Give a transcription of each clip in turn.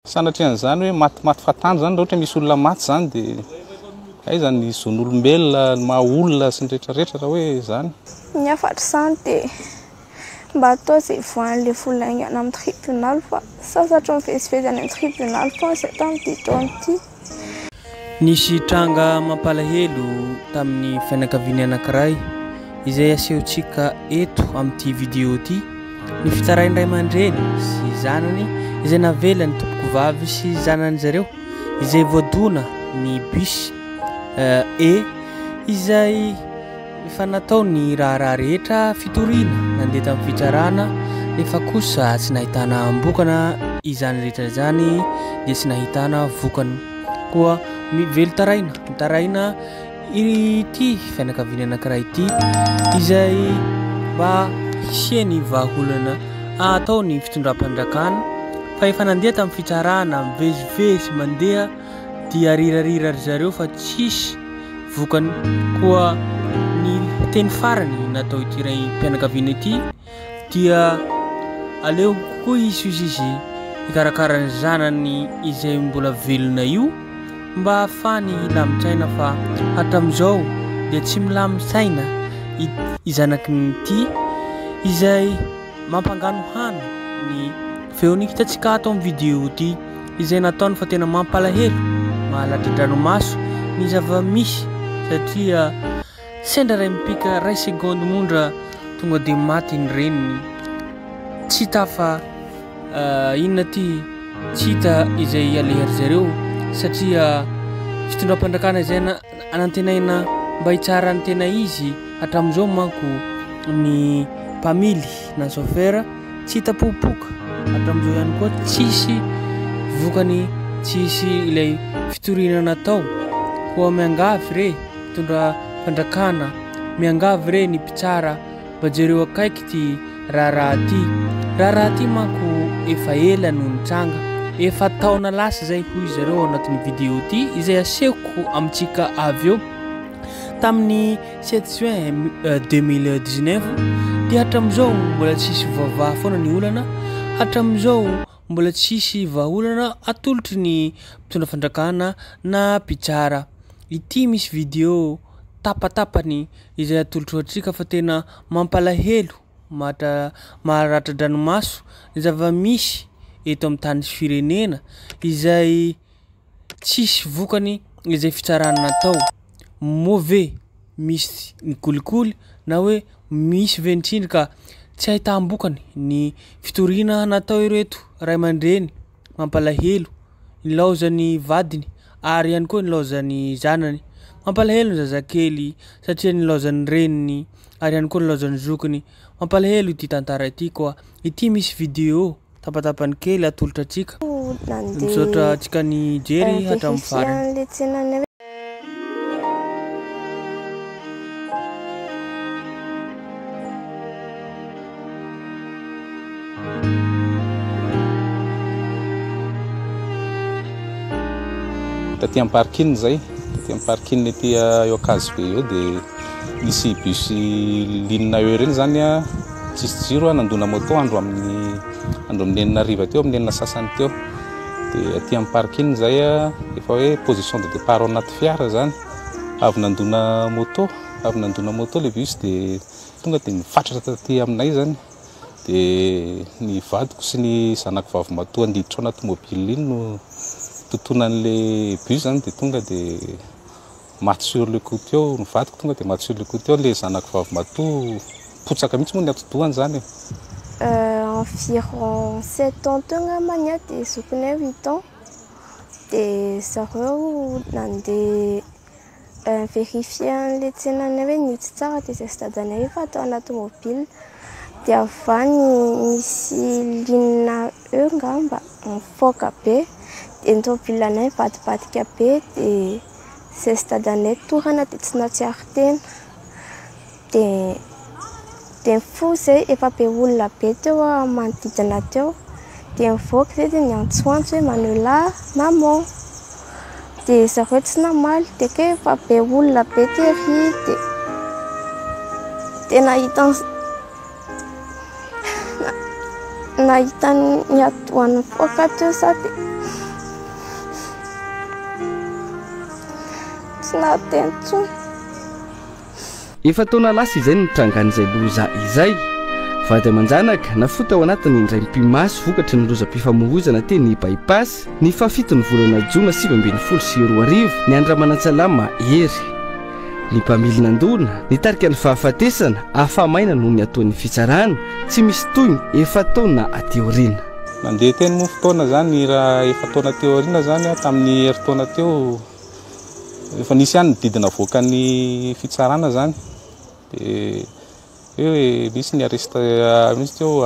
Sanatrian'izany hoe maty maty fatandro izany, raha ohatra misy olona maty izany dia aiza ny zon'olombelona, ny maha olona sy ny rehetra rehetra raha hoe izany. Ny hafatr'izany dia mba atao izay ivoahan'ilay vola haingana amin'ny tribonaly fa sasatry ny mivezivezy any amin'ny tribonaly foana izay tamin'ity taona ity. Nisy tranga mampalahelo tamin'ny fianakaviany anankiray izay asehontsika eto amin'ity vidéo ity ny fitsarain'ny ray aman-dreny sy zanany izay navela ny tompokovavy sy zanany zareo izay voadona ny bus E izay Efa natao ny raharaha rehetra fitoriana nandeha tamin'ny fitsarana nefa kosa tsy nahitana ambokana izany rehetra izany dia tsy nahitana vokany koa ny velon-taraina mitaraina ity fianakaviana anankiray ity izay mba hisiany vahaolana atao ny fitondram-panjakana fa efa nandeha tamin'ny fitsarana mivezivezy mandeha Dia rirarira ry zareo fa tsisy vokany koa ny teny farany natao ity raim-pianakaviana ity dia aleo koa hisy ozy izy hikarakara ny zanany izay mbola velona io mba hahafahany hilamin-tsaina fa hatramin'izao dia tsy milamin-tsaina ity zanaky ny ity izay Mampangano hany ny feon'ny kitantsika ato amin'ny vidéo ity izay nataony fa tena mampalahelo, mahalatri-dranomaso ny zava-misy satria sendra iray mipika iray seconde mondra tonga dia maty ny reniny tsy tafa inona ity tsy hita izay aleha ry zareo satria fitondram-pandrakana izay na Anantenaina mba hitsara ny tena izy hatramin'izao manko ny mpamily na chauffeur tsy hita popoka hatramin'izao ihany koa tsisy vokany tsisy ilay fitoriana natao koa miangavy re mitondra fandrakana miangavy re ny mpitsara Mba jereo akaiky ity raharaha ity. Raharaha ity manko efa ela no nitranga, efa taona lasa izay hoy izy ireo ao anatin'ny vidéo ity izay asehoko amintsika avy eo. Tamin'ny 7 juin 2019 eh, dia hatramin'izao mbola tsisy voavaha foana ny olana, hatramin'izao Mbola tsy hisy vahaolana atolotry ny mpitondra fandrakana na mpitsara. Ity misy video tapatapany izay atolotro antsika fa tena mampalahelo, maharatra dranomaso ny zava-misy eto amin'ny tany sy firenena izay. Tsisy vokany izay fitsarana natao. Moa ve misy ny kolikoly na hoe misy ve ny tsindry ka tsy ahitam-bokany ny fitoriana natao ireto ray aman-dreny mampalahelo nilaozan'ny vadiny ary ihany koa nilaozan'ny zanany. Mampalahelo ny zazakely satria nilaozan'ny reniny ary ihany koa nilaozan'ny zokiny. Mampalahelo ity tantara ity koa. Ity misy video. Tapatapany kely atolotra antsika. Misaotra antsika nijery hatramin'ny farany. Taty am parking zay, taty am parking ety eo Ankazobey eo dia. Nisy bus ligne E ireny zany tsisy jiro nandona moto andro amin'ny andro amin'ny enina hariva teo amin'ny enina sasany teo dia aty amin'ny parking izay efa hoe position de départ ao anaty fiara zany avy nandona moto avy nandona moto le bus dia tonga dia nifatratra taty aminay zany dia ny vadiko sy ny zanako vavy matoa handiditra ao anaty mobile iny no tontonan'ilay bus zany dia tonga dia Maty sur le coup teo ny vadiko tonga dia maty sur le coup teo ilay zanako vavy matoa potsaka mihitsy moa ny atidohany izany e. Environ sept ans teo angamba ny ahy dia zokinay huit ans dia zareo nandeha ni-verifier an'ilay tsenanay hoe nitsy tsara dia izay sy dadanay efa tao anaty mobile dia avy any nisy ligne eo angamba nifaoka be dia ny tômôbilanay nivadibadika be dia Zay dadanay torana dia tsy nahatsiaro tena. Dia dia nifoha izay, efa be olona be teo manodidina teo. Dia nivoaka izay dia niantsoantso hoe Manoela a! Maman! Dia zareo tsy namaly. Dia kay efa be olona be tery. Dia dia nahita an'i. nahita ny atidohan'ny poaka teo za dia tsy nahateny intsony. Efa-taona lasa izay ny nitrangan'izay loza izay. Vady aman-janaka nafoy tao anatin'ny indraim-pimaso vokatry ny lozam-pifamohozana teny By-pass ny fahafiton'ny volana jona sivy ambin'ny folo sy roa arivo, ny an-dRamanantsalama Hery. ny mpamily nandona, nitarika ny fahafatesana, afa-maina noho ny ataon'ny fitsarana, tsy misy tohiny, efa taona aty aoriana. Nandeha teny moa fotoana izany raha efa taona teo aoriana izany, tamin'ny herintaona teo, efa nisy ihany ny didy navoakan'ny fitsarana izany, dia hoe misy ny arrest, misy teo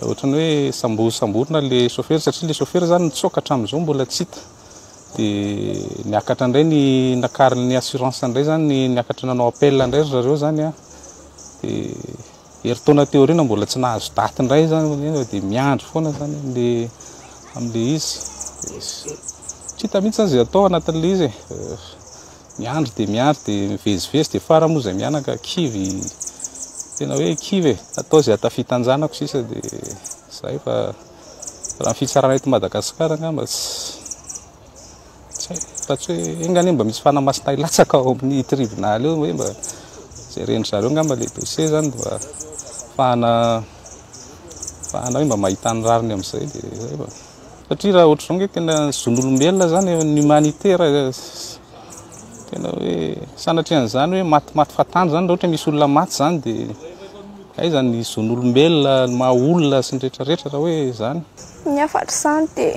ohatran'ny hoe sambo, samborina ilay chauffeur, satria ilay chauffeur izany nitsoaka hatramin'izao mbola tsy hita. Dia niakatra indray ny nakarin'ny assurance indray zany ny niakatra nanao appel indray ry zareo zany a. Dia herintaona teo aoriana mbola tsy nahazo daty indray zany nefa dia miandry foana zany le amin'ilay izy. Tsy hita mihitsy zany izay atao anatin'ilay izy e. Miandry dia miandry dia mivezivezy dia fara moa izay mianaka kivy tena hoe kivy e. Atao izay hatafitan-janako sisa dia zay fa. Raha ny fitsarana eto Madagasikara angamba tsy haiko fa tsy hoe enga anie mba misy fanamasina hilatsaka ao amin'ny tribunal eo hoe mba jeren'ny zareo angamba ilay dossier zany mba fahana fahana hoe mba mahita ny rariny amin'izay dia izay fa satria raha ohatr'izao nge tena zon'olombelona zany ny humanité raha Tena hoe sanatrian'izany hoe matimaty fahatany zany raha ohatra misy olona maty zany de aiza ny zon'olombelona, ny maha olona sy ny retraretra raha hoe zany. Ny afatr'izany de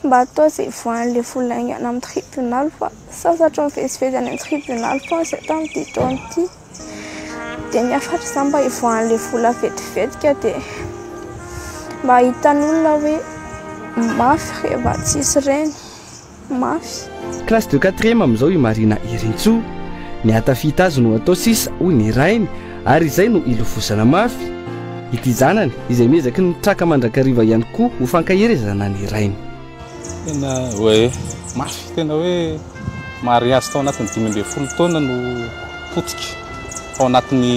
mba atao ze voan'le vola aingana amin'ny tribonaly fa sasatry ny mivezivezy any amin'ny tribonaly foana zay tamin'ity taona ity de ny afatr'izany mba hivoahan'le vola vetivetika ka de mba hitan'olona hoe mafy rehefa tsisy reny. mafy. Classe de quatrième amin'izao i Marina Irintsoa. Ny hahatafita azy no atao sisa, hoy ny rainy, ary izay no hilofosana mafy. Ity zanany, izay miezaky ny mitraka mandrakariva ihany koa ho fankaherezana ny rainy. Tena hoe mafy, tena hoe mariazy tao anatin'ny dimy ambin'ny folo taona no potika, tao anatin'ny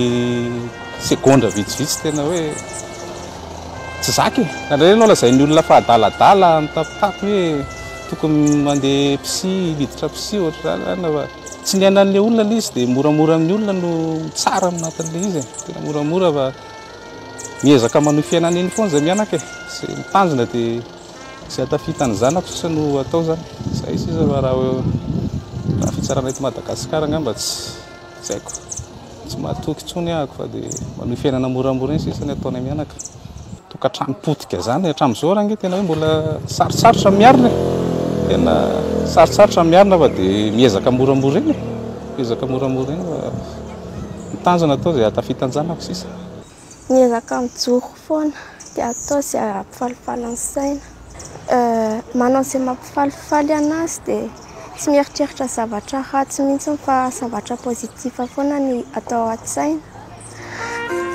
segondra vitsivitsy, tena hoe tsy zaka e! Indraindray aloha lazain'ny olona fa adaladala, mitapitapy hoe. tokony mandeha psy miditra psy ohatra zany fa tsy ny ainan'le olona le izy dia moramora amin'ny olona no tsara amin'ny natin'le izy e. tena moramora fa miezaka manohy fiainana eny foana izay mianaka e sy mitanjona dia sy atafita ny zanako sisa no atao zany izay sisa fa raha raha fitsarana eto Madagasikara angamba tsy Tsy haiko, tsy mahatoky intsony ahako fa dia manohy fiainana moramora eny sisa ny ataonay mianaka. Tokantrano potika izany hatramin'izao ary ange tena hoe mbola sarotsarotra ny miarina e. Tena sarotsarotra ny miarina fa dia miezaka moramora eny e. Miezaka moramora eny fa ny tanjona atao izay hahatafitan-janako sisa. Miezaka mijoro foana dia atao izay hampifalifaly ny saina. Manao izay mampifalifaly anazy dia tsy mieritreritra zavatra ratsy mihitsy fa zavatra positif foana ny atao an-tsaina.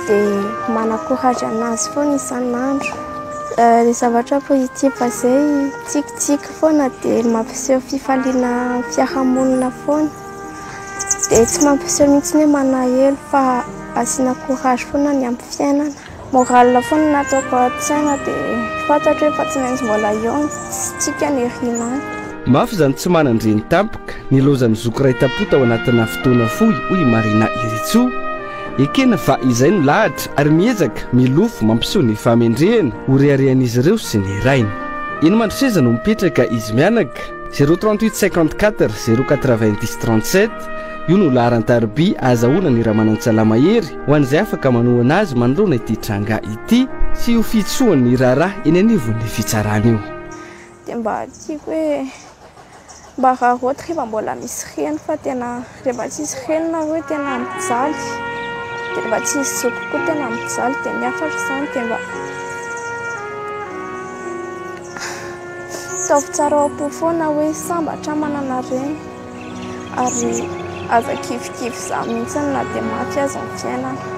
Dia manakorazy anazy foana isan'andro. Ny zavatra positif izay tsikitsiky foana dia mampiseho fifaliana amin'ny fiarahamonina foana. Dia tsy mampiseho mihitsy ny manahelo fa asiana courage foana ny amin'ny fiainana. Morale foana no ataoko an-tsaina dia fantatro hoe fa tsy maintsy mbola eo ny tsika ny rinany. Mafy izany tsy manan-dreny tampoka nilozan'ny zoky iray tam-po tao anatinà fotoana fohy, hoy i Marina Iritsoa. Ekena fa izay no lahatra ary miezaka milofo mampiseho ny fahamendrehana ho reharehan'izy ireo sy ny rainy. Eny Mandroseza no mipetraka izy mianaka. Zéro trente huit cinquante quatre zéro quatre vingt dix trente sept Io no laharan-tariby ahazahoana ny Ramanantsalà Mahery ho an'izay afaka manohana azy manoloana ity tranga ity. Tsy io fihitsohany ny raharaha eny anivon'ny fitsarana io. Dia mba tiako hoe mba raraoty rehefa mbola misy reny fa tena. Rehefa tsy hisy reny nareo tena hampijaly dia rehefa tsy hisy zoky koa tena hampijaly dia ny hafa ary izany dia mba ataovy tsara ao am-po foana hoe sambatra aho manana reny ary aza kivikivy izaho mihitsy na dia maty aza ny fiainana.